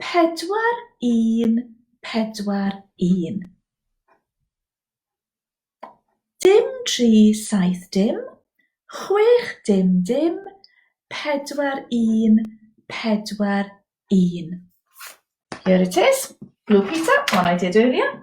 Pedwar un pedwar un. Dim tri saith dim, chwech dim dim, pedwar un pedwar un. Here it is. Blue Peter, one I did earlier.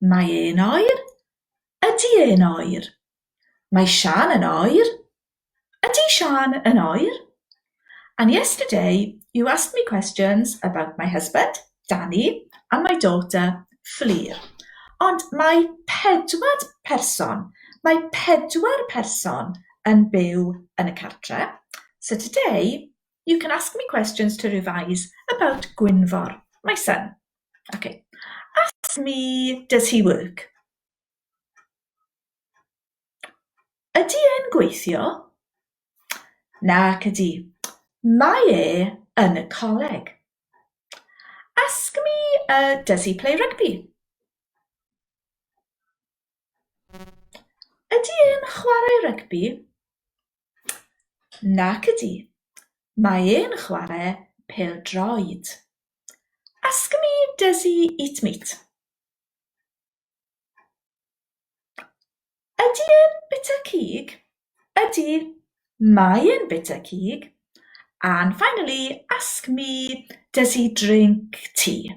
Mae e'n oer. Ydy e'n oer? Mae Siân yn oer. Ydy Siân yn oer? And yesterday you asked me questions about my husband, Danny, and my daughter, Fflur. Ond mae pedwar person, mae pedwar person yn byw yn y cartre. So today you can ask me questions to revise about Gwynfor, my son. Okay. Ask me, does he work? Ydy e'n gweithio? Nac ydy. Mae e yn y coleg. Ask me, uh, does he play rugby? Ydy e'n chwarae rygbi? Nac ydy. Mae e'n chwarae pel-droed. Ask me does he eat meat? Ydy e'n bwyta cig? Ydy mae e'n bwyta cig? And finally, ask me does he drink tea?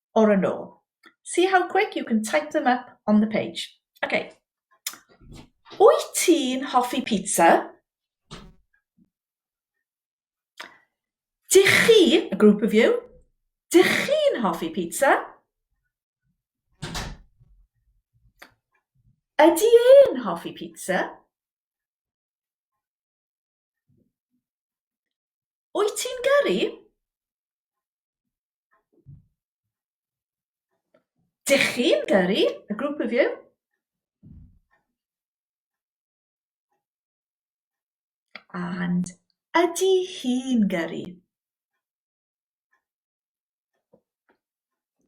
or a no. See how quick you can type them up on the page. Ok. Wyt ti'n hoffi pizza? Dych chi, a group of you, dych chi'n hoffi pizza? Ydy e'n hoffi pizza? Wyt ti'n gyrru? Dych chi'n gyrru, a group of you. And ydy hi'n gyrru?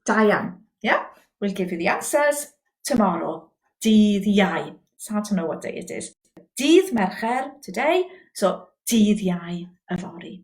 Da iawn. Yeah, we'll give you the answers tomorrow. Dydd Iau. It's hard to know what day it is. Dydd Mercher, today, so dydd Iau yfory.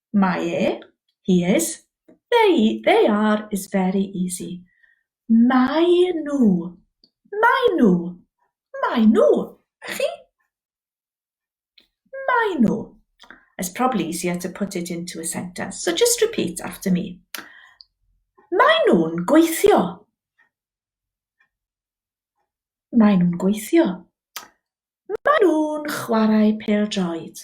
Mae e, he is, they, they are, is very easy. Maen nhw, maen nhw, maen nhw, a chi? Maen nhw. It's probably easier to put it into a sentence, so just repeat after me. Maen nhw'n gweithio. Maen nhw'n gweithio. Maen nhw'n chwarae pêl-droed.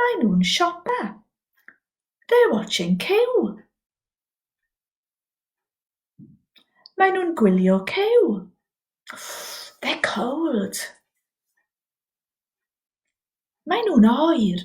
Mae nhw'n siopa. They're watching cyw. Mae nhw'n gwylio cyw. They're cold. Mae nhw'n oer.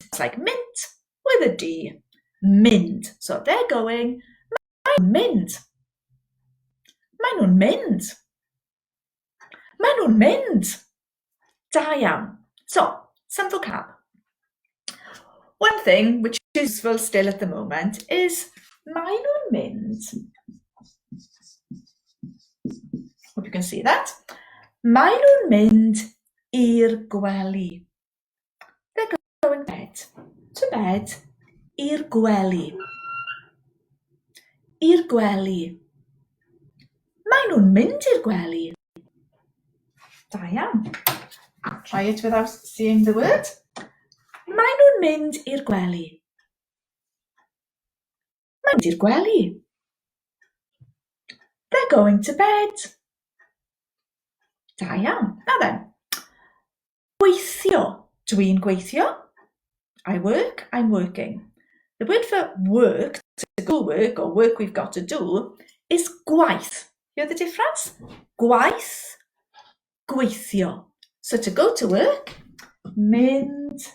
It's like mint with a D. Mynd. So they're going. Maen nhw'n mynd. Maen nhw'n mynd. Maen nhw'n mynd. Da iawn. So, some vocab. One thing which is useful still at the moment is maen nhw'n mynd. Hope you can see that. Maen nhw'n mynd i'r gwely. They're going to bed. To bed. I'r gwely. I'r gwely. Maen nhw'n mynd i'r gwely. Da iawn. Try it without seeing the word. Maen nhw'n mynd i'r gwely. Maen nhw'n mynd i'r gwely. They're going to bed. Da iawn. Na then. Gweithio, Dw i'n gweithio. I work, I'm working. The word for work, to go work or work we've got to do, is gwaith. Hear the difference? Gwaith, gweithio. So to go to work, mynd,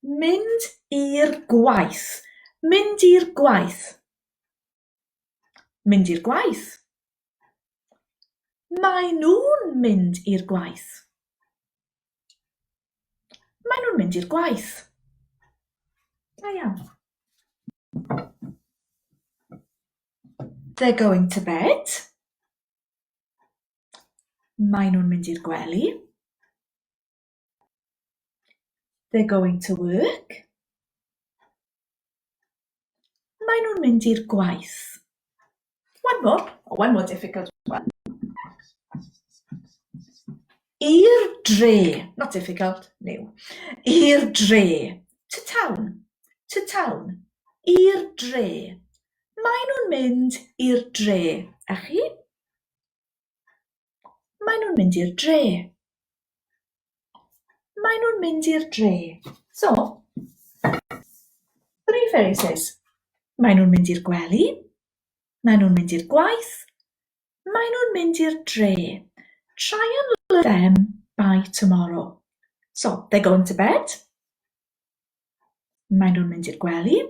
mynd i'r gwaith. Mynd i'r gwaith. Mynd i'r gwaith. Mae nhw'n mynd i'r gwaith. Mae nhw'n mynd i'r gwaith. Da iawn. They're going to bed. Mae nhw'n mynd i'r gwely. They're going to work. Maen nhw'n mynd i'r gwaith. One more, oh, one more difficult one. I'r dre, not difficult, new. I'r dre, to town, to town. I'r dre. Maen nhw'n mynd i'r dre. A chi? Maen nhw'n mynd i'r dre. Maen nhw'n mynd i'r dre. So, three phrases. Maen nhw'n mynd i'r gwely. Maen nhw'n mynd i'r gwaith. Maen nhw'n mynd i'r dre. Try and learn them by tomorrow. So, they're going to bed. Maen nhw'n mynd i'r gwely.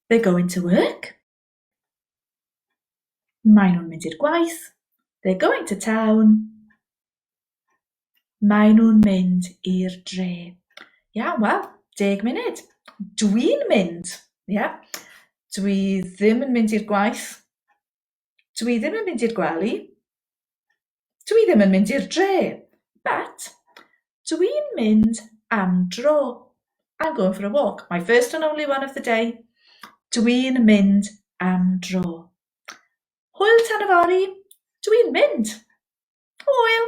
They're going to work. Maen nhw'n mynd i'r gwaith. They're going to town. Maen nhw'n mynd i'r dre. Iawn, wel, deg munud. Dwi'n mynd. Ie. Yeah. Dwi ddim yn mynd i'r gwaith. Dwi ddim yn mynd i'r gwely. Dwi ddim yn mynd i'r dre, but dwi'n mynd am dro. I'm going for a walk. My first and only one of the day. Dwi'n mynd am dro. Hwyl tan yfory, dwi'n mynd. Hwyl!